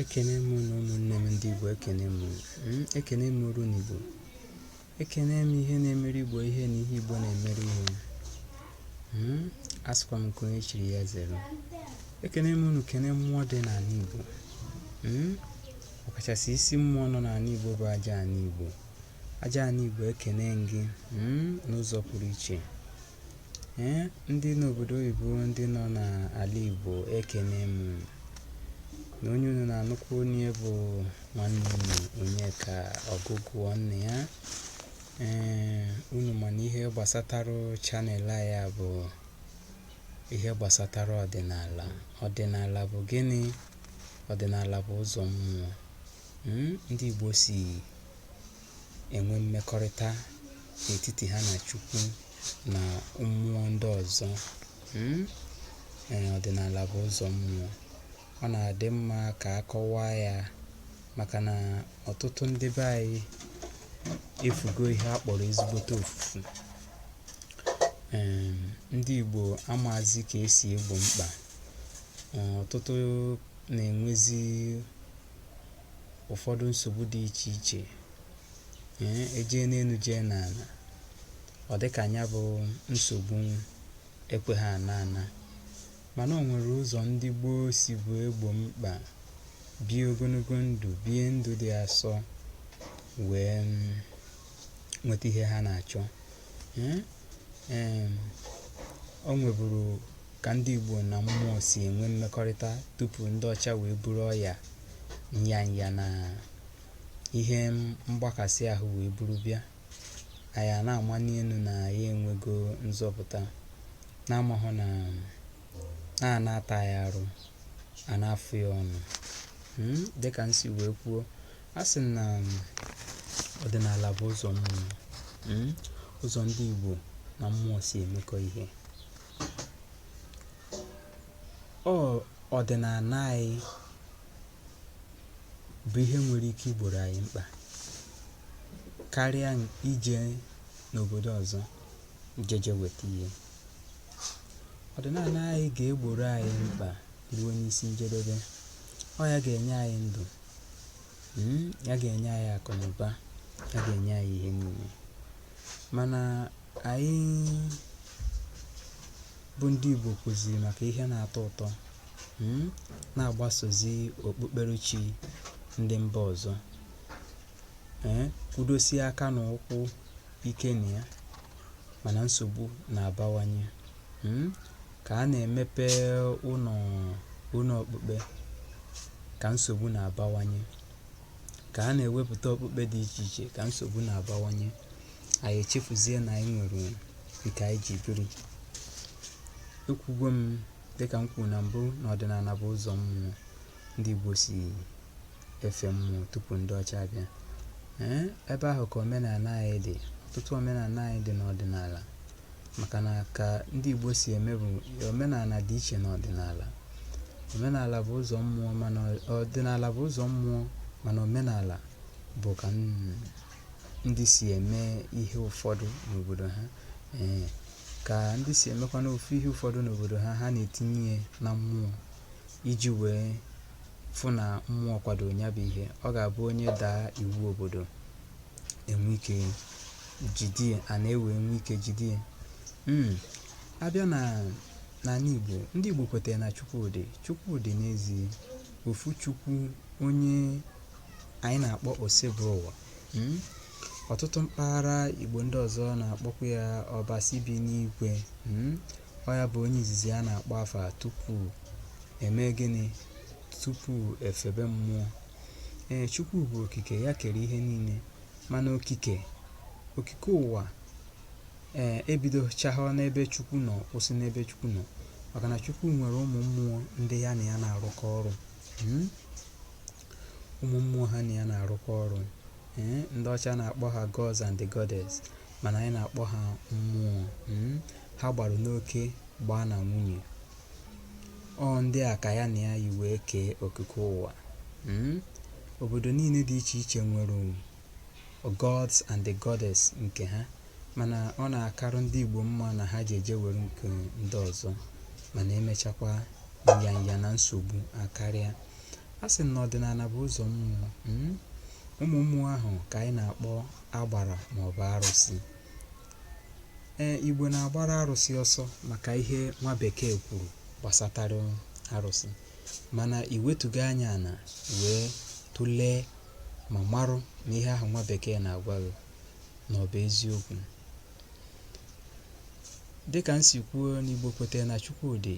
ekene m unu ụmụnne m ndị Igbo ekene m hmm, ekene m oru n'Igbo ekene m ihe na-emere Igbo ihe na ihe Igbo na-emere ihe hmm, asịkwa m nke onye chiri ya zere ekene m unu kene mmụọ dị n'anị Igbo hmm, ọkachasị isi mmụọ nọ n'anị Igbo bụ aja anị Igbo aja anị Igbo ekene m gị n'ụzọ pụrụ iche Ee, ndị n'obodo oyibo ndị nọ n'ala Igbo ekene m unu onye unu na-anụkwu onu ya bụ nwanne unu Onyeka Ọgụgụa nna ya ee unu ma na ihe gbasatara channel ya bụ ihe gbasatara ọdịnala ọdịnala bụ gịnị ọdịnala bụ ụzọ mmụọ hmm, ndị Igbo si enwe mmekọrịta n'etiti ha na Chukwu na mmụọ ndị ọzọ. Hmm? Ee, ọdịnala bụ ụzọ mmụọ. Ọ na-adị mma ka a kọwaa ya maka na ọtụtụ ndị be anyị efugo ihe a kpọrọ ezigbote ofufu. Ee, ndị Igbo amaazị ka e si egbo mkpa. Ọtụtụ na-enwezi ụfọdụ nsogbu dị iche iche ee ejee n'enu jee n'ana ọ dị ka nya bụ nsogbu ekwe ha ana ana mana o nwere ụzọ ndị gboo sibu egbo mkpa bie ogonogo ndụ bie ndụ dị asọ wee nweta ihe ha na-achọ ee o nweburu ka ndị Igbo na mmụọ si enwe mmekọrịta tupu ndị ọcha wee buru ọya nyanya na ihe mgbakasị ahụ wee buru bịa anyị a na-amani enu na ya enwego nzọpụta na-amahụ na a na-ata ya arụ a na-afụ ya ọnụ hmm, dịka m si wee kwuo a sị na ọdịnala bụ ụzọ mmụọ hmm, ụzọ ndị Igbo na mmụọ si emekọ ihe Ọ ọdịnala anyị bụ ihe nwere ike igboro anyị mkpa karịa ije n'obodo ọzọ jeje weta ihe. Ọdịnala anyị ga-egboro anyị mkpa ruo n'isi njedebe. Ọ ya ga-enye anyị ndụ, mm, ya ga-enye anyị akụnụba, ya ga-enye anyị ihe niile. Mana Anyị bụ ndị Igbo kụziri maka ihe na-atọ ụtọ hmm, na-agbasozi okpukperechi ndị mba ọzọ eh, kwudosie aka na ụkwụ ike na ya mana nsogbu na-abawanye hmm, ka a na-emepe ụlọ ụlọ okpukpe ka nsogbu na-abawanye ka a na-ewepụta okpukpe dị iche iche ka nsogbu na-abawanye anyị echefuzie na anyị nwere nke anyị ji biri ekwugo m dịka m kwuru na mbụ na ọdịnala bụ ụzọ mmụọ ndị Igbo si efe mmụọ tupu ndị ọcha abịa ee ebe ahụ ka omenala anyị dị ọtụtụ omenala anyị dị n'ọdịnala maka na ka ndị Igbo si eme bụ omenala dị iche n'ọdịnala omenala bụ ụzọ mmụọ ọdịnala bụ ụzọ mmụọ mana omenala bụ ka ndị si eme ihe ụfọdụ n'obodo ha ee ka ndị si emekwa n'ofu ihe ụfọdụ n'obodo ha ha na-etinye ya na mmụọ iji wee fụ na mmụọ kwado ya bụ ihe ọ ga-abụ onye daa iwu obodo e nwee ike jide ya a na-ewe e nwee ike jide ya Mm. a bịa n'ala Igbo ndị Igbo kwetara na Chukwu dị Chukwu dị n'ezie ofu Chukwu onye anyị na-akpọ Osebụrụwa hmm? ọtụtụ mpaghara Igbo ndị ọzọ na-akpọkwa ya Ọbasi bi n'igwe hmm? ọ ya bụ onye izizi a na-akpọ afa tupu e mee gịnị tupu e febe mmụọ ee Chukwu bụ okike ya kere ihe niile mana okike okike ụwa ee ebidochaghọ n'ebe Chukwu nọ kwụsị n'ebe Chukwu nọ maka na Chukwu nwere ụmụ mmụọ ndị ya na ya na-arụkọ ọrụ hmm? ụmụ mmụọ ha na ya na-arụkọ ọrụ ee ndị ọcha na-akpọ ha gods and the goddess mana anyị na-akpọ ha mmụọ mm, ha gbara n'oke gbaa na nwunye ọ ndị a ka ya na ya yi wee kee okike ụwa mm, obodo niile dị iche iche nwere gods and the goddess nke ha mana ọ na-akarụ ndị Igbo mma na ha ji eje were nke ndị ọzọ mana emechakwa nya nya na nsogbu akarịa Asị m na ọdịnala bụ ụzọ mmụọ, mm, ụmụ mmụọ ahụ ka anyị na-akpọ agbara maọbụ arụsị. Ee, Igbo na-agbara arụsị ọsọ maka ihe nwa bekee kwuru gbasatara arụsị mana i wetuga anya ala wee tụlee ma marụ na ihe ahụ nwa bekee na-agwa gị na ọ bụ eziokwu. Dịka m si kwuo na Igbo kwete na Chukwu dị,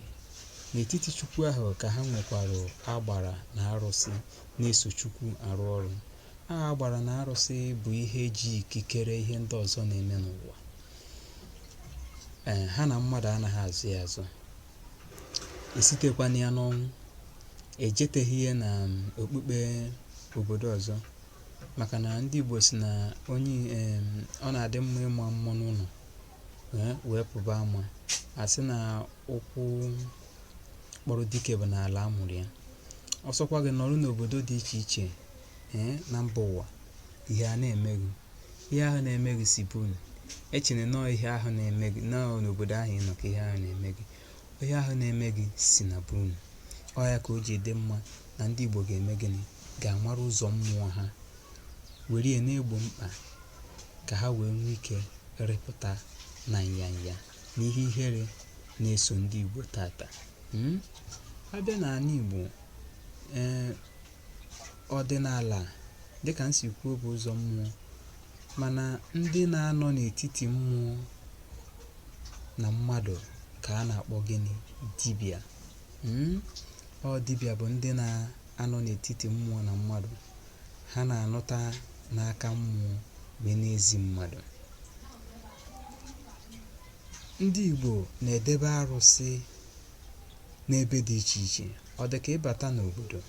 n'etiti Chukwu ahụ ka ha nwekwara agbara na arụsị na-eso Chukwu arụ ọrụ. Aha agbara na arụsị bụ ihe ji ikikere ihe ndị ọzọ na-eme n'ụwa. Ee, ha na mmadụ anaghị azọ ya azọ. Esitekwana ya n'ọnwụ. Ejeteghị ya na okpukpe obodo ọzọ. maka na ndị Igbo sị na onye um ọ na-adị mma ịma mma n'ụnọ um wee pụba ama a sị na ụkwụ kpọrọ dike bụ n'ala a mụrụ ya ọsọkwa gị nọrọ n'obodo dị iche iche um na mba ụwa ihe a na-eme gị ihe ahụ na-eme gị si be unu echena na ọ ihe ahụ na-eme gị na ọ n'obodo ahụ ị nọ ka ihe ahụ na-eme gị ihe ahụ na-eme gị si na be unu ọ ya ka o ji dị mma na ndị Igbo ga-eme gịnị ga-amara ụzọ mmụọ ha were ya na-egbo mkpa ka ha wee nwee ike rịpụta na nyanya na ihe ihere na-eso ndị Igbo taata hmm? a bịa n'ala Igbo ee eh, ọdịnala dịka m si kwuo bụ ụzọ mmụọ mana ndị na-anọ n'etiti mmụọ na mmadụ ka a na-akpọ gịnị dibịa hmm? ọ dibịa bụ ndị na anọ n'etiti mmụọ na mmadụ, ha na-anụta n'aka mmụọ wee na-ezi mmadụ. Ndị Igbo na-edebe arụsị n'ebe dị iche iche. Ọ dị ka ịbata n'obodo,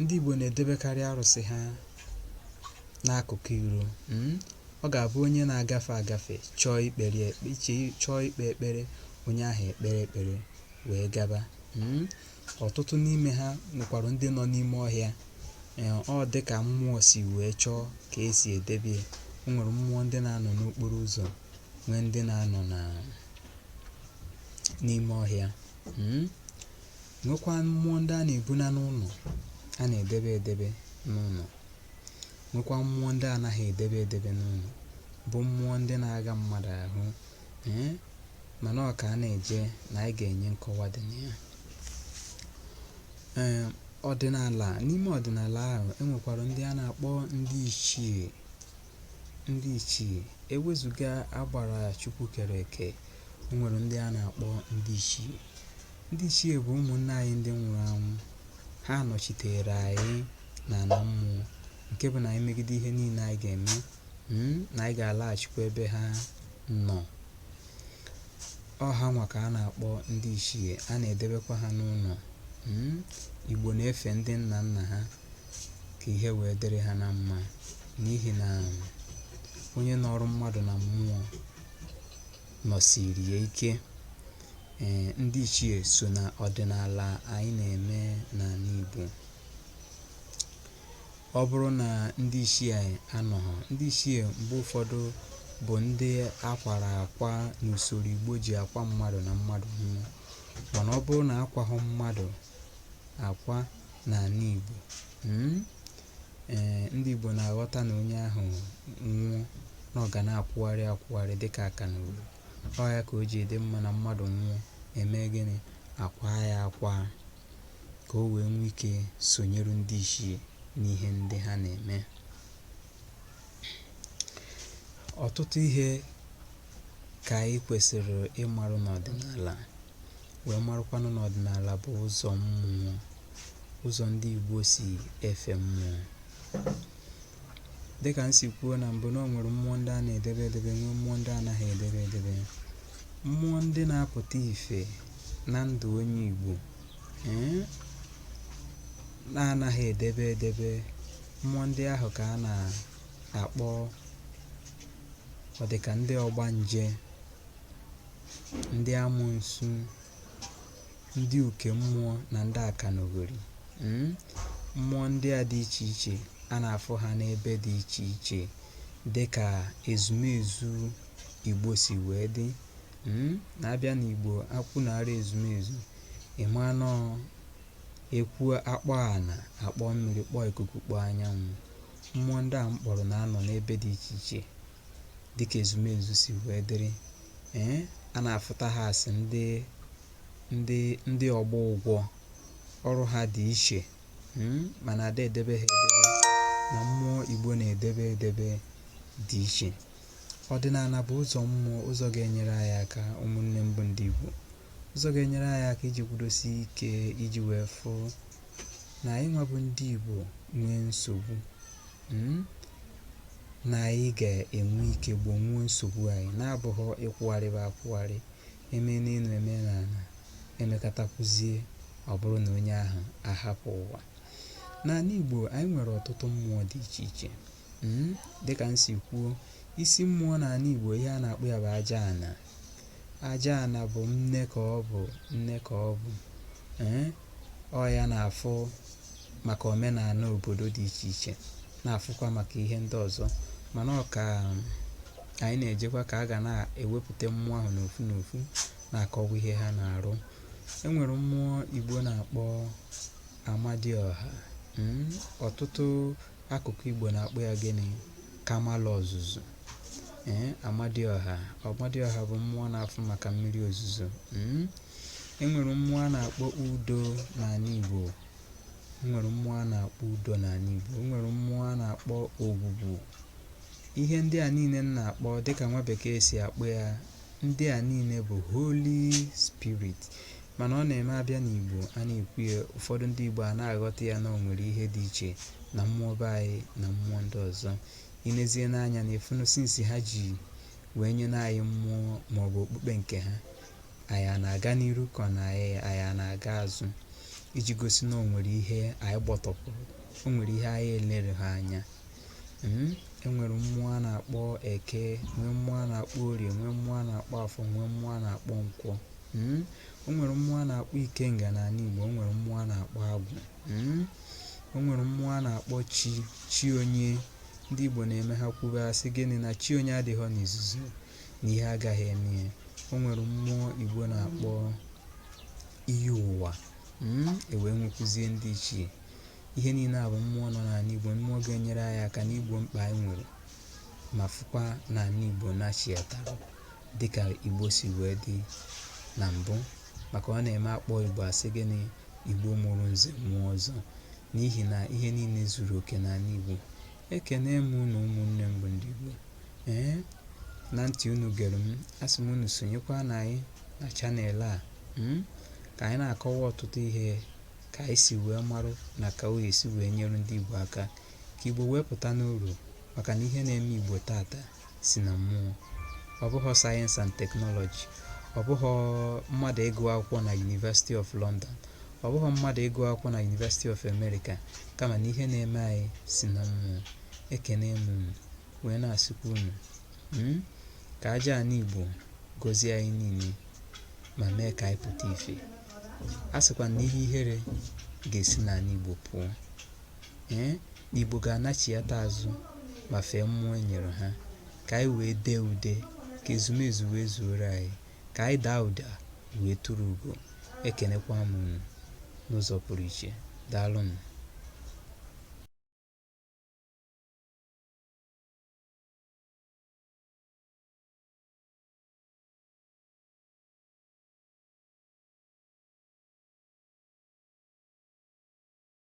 ndị Igbo na-edebekarị arụsị ha n'akụkụ iro. Hmm? Ọ ga-abụ onye na-agafe agafe chọọ ikpere chọọ ikpe ekpere, onye ahụ ekpere ekpere wee gaba. Hmm? ọtụtụ n'ime ha nwekwara ndị nọ n'ime ọhịa ee ọ dị ka mmụọ si wee chọọ ka e si edebe ya o nwere mmụọ ndị na-anọ n'okporo ụzọ nwee ndị na-anọ na n'ime ọhịa mm? nwekwa mmụọ ndị a na-ebuna n'ụnọ a na-edebe edebe n'ụnọ nwekwa mmụọ ndị a naghị edebe edebe n'ụnọ bụ mmụọ ndị na-aga mmadụ ahụ ee mana ọ ka a na-eje na anyị ga-enye nkọwa dị na ya ee ọdịnala n'ime ọdịnala ahụ e nwekwara ndị a na-akpọ ndị ichie ndị ichie e wezuga agbara chukwu kere eke o nwere ndị a na-akpọ ndị ichie ndị ichie bụ ụmụnna anyị ndị nwụrụ anwụ ha nọchitere anyị na ala mmụọ nke bụ na anyị megide ihe niile anyị ga-eme hmm, na anyị ga-alaghachikwa ebe ha nọ ọ ha nwa ka a na-akpọ ndị ichie a na-edebekwa ha n'ụnọ hmm, igbo na-efe ndị nna nna ha ka ihe wee dịrị ha na mma n'ihi na onye nọrọ mmadụ na mmụọ nọsiri ya ike ee eh, ndị ichie so na ọdịnala anyị na-eme n'ana Igbo ọ bụrụ na ndị ichie anọghị ndị ichie mgbe ụfọdụ bụ ndị a kwara akwa n'usoro igbo ji akwa mmadụ na mmadụ nwụọ mana ọ bụrụ na akwahụ mmadụ akwa n'ana igbo mm, ee ndị igbo na-aghọta na onye ahụ nwụọ na ọ ga na-akwụgharị akwụgharị dịka akanogori ọ ya ka o ji dị mma na mmadụ nwụọ e mee gịnị a kwaa ya akwa ka o wee nwee ike sonyeru ndị ichie n'ihe ndị ha na-eme ọtụtụ ihe ka anyị kwesịrị ịmarụ n'ọdịnala wee marụkwanụ na ọdịnala bụ ụzọ mmụọ ụzọ ndị Igbo si efe mmụọ dịkà m sì kwuo nà m̀bụ na o nwèrè mmụọ ndị a nà-èdebe edebe nwee mmụọ ndị anaghị èdebe edebe mmụọ ndị na-apụ̀ta ìfè na ndụ̀ onye ìgbò ee na-anaghị èdebe edebe mmụọ ndị ahụ kà a nà-àkpọ ọ dịkà ndị ọgbanje ndị amụnsu ndị uke mmụọ na ndị akanogori mm, mmụọ ndị a dị iche iche a na-afụ ha n'ebe dị iche iche dị ka ezumezu igbo si wee dị mm, na a bịa n'igbo akwụ na ara ezumezu ime anọ e kwuo a kpọọ ana a kpọọ mmiri kpọọ ikuku kpọọ anyanwụ mmụọ ndị a m kpọrọ na-anọ n'ebe dị iche iche dịka ezumezu si wee dịrị ee a na-afụta ha a sị ndị ndị ndị ọgbọ ụgwọ ọrụ ha dị iche hmm, mana ada edebe ha edebe na mmụọ igbo na-edebe edebe dị iche ọdịnala bụ ụzọ mmụọ ụzọ ga-enyere anyị aka ụmụnne m bụ ndị igbo ụzọ ga-enyere anyị aka iji kwudosi ike iji wee fụ na anyị nwa bụ ndị igbo nwee nsogbu hmm, na anyị ga-enwe ike gbonwuo nsogbu anyị na-abụghị ịkwụgharịba akwụgharị e mee n'enu e mee n'ana e mekatakwuzie ọ bụrụ na onye ahụ ahapụ ụwa n'ana Igbo anyị nwere ọtụtụ mmụọ dị iche iche hmm, dịka m si kwuo isi mmụọ n'ana Igbo ihe a na-akpọ ya bụ aja ana aja ana bụ nne ka ọ bụ nne ka ọ bụ ee eh, Ọ ya na-afụ maka omenanị obodo dị iche iche na-afụkwa maka ihe ndị ọzọ mana ọ ka um, anyị na-ejekwa ka a ga na-ewepụta mmụọ ahụ n'ofu n'ofu na-akọwa ihe ha na-arụ e nwere mmụọ Igbo na-akpọ Amadioha hmm, ọtụtụ Akụkụ Igbo na-akpọ ya gịnị? Kamalụ Ozuzu. Ee, Amadioha. Amadioha bụ mmụọ na-afụ maka mmiri ozuzo. Hmm? E nwere mmụọ a na-akpọ Udo n'anị Igbo. E nwere mmụọ a na-akpọ Udo n'anị Igbo. E nwere mmụọ a na-akpọ Ogwugwu. Ihe ndị a niile m na-akpọ dịka nwa bekee si akpọ ya ndị a niile bụ holy spirit Mana ọ na-eme a bịa n'Igbo, a na-ekwu ya, ụfọdụ ndị Igbo a na-aghọta ya na o nwere ihe dị iche na mmụọ be anyị na mmụọ ndị ọzọ. I nezie n'anya na ị fụ na since ha ji wee nye na anyị mmụọ maọbụ okpukpe nke ha, anyị a na-aga n'iru ka ọ na anyị na-aga azụ iji gosi na o nwere ihe anyị gbọtọpụrụ, o nwere ihe anyị elereghọ anya. Mm, E nwere mmụọ a na-akpọ Eke, nwee mmụọ a na-akpọ Orie, nwee mmụọ a na-akpọ Afọ, nwee mmụọ a na-akpọ Nkwọ. Hmm? O nwere mmụọ a na-akpọ Ikenga n'anị Igbo, o nwere mmụọ a na-akpọ Agwụ. Hmm? O nwere mmụọ a na-akpọ chi, chi onye. Ndị Igbo na-eme ha kwube a sị gịnị na chi onye adịghọ n'izuzu na ihe agaghị eme ya. O nwere mmụọ Igbo na-akpọ iyi ụwa. Hmm? E wee nwekwuzie ndị ichie. Ihe niile a bụ mmụọ nọ n'anị Igbo, mmụọ ga-enyere anyị aka n'igbo mkpa anyị nwere. ma fụkwa na anị Igbo nachiyatarụ dịka Igbo si wee dị na mbụ maka ọ na-eme a kpọọ Igbo a sị gịnị Igbo mụrụ nze mụọ ọzọ n'ihi na ihe niile zuru oke n'anị Igbo ekene m unu ụmụnne m bụ ndị Igbo ee na ntị unu gere m asị m unu sonyekwa na anyị na channel a hmm? ka anyị na-akọwa ọtụtụ ihe ka anyị si wee marụ na ka ọ ya-esi wee nyere ndị Igbo aka ka Igbo wee pụta n'uru maka na ihe na-eme Igbo taata si na mmụọ ọ bụghọ science and technology ọ bụghọ mmadụ ịgụ akwụkwọ na University of London ọ bụghọ mmadụ ịgụ akwụkwọ na University of America kama na ihe na-eme anyị si na mmụọ ekene m unu wee na-asịkwa unu hmm, ka aja anị Igbo gọzie anyị niile ma mee ka anyị pụta ife asịkwa m na ihe ihere ga-esi n'anị Igbo pụọ Ee, Igbo ga-anachiata azụ ma fee mmụọ e nyere ha, ka anyị wee dee ude, ka ezumezu wee zuoro anyị, ka anyị daa ụda wee turu ugo. Ekenekwa m unu n'ụzọ pụrụ iche. Daalụnụ.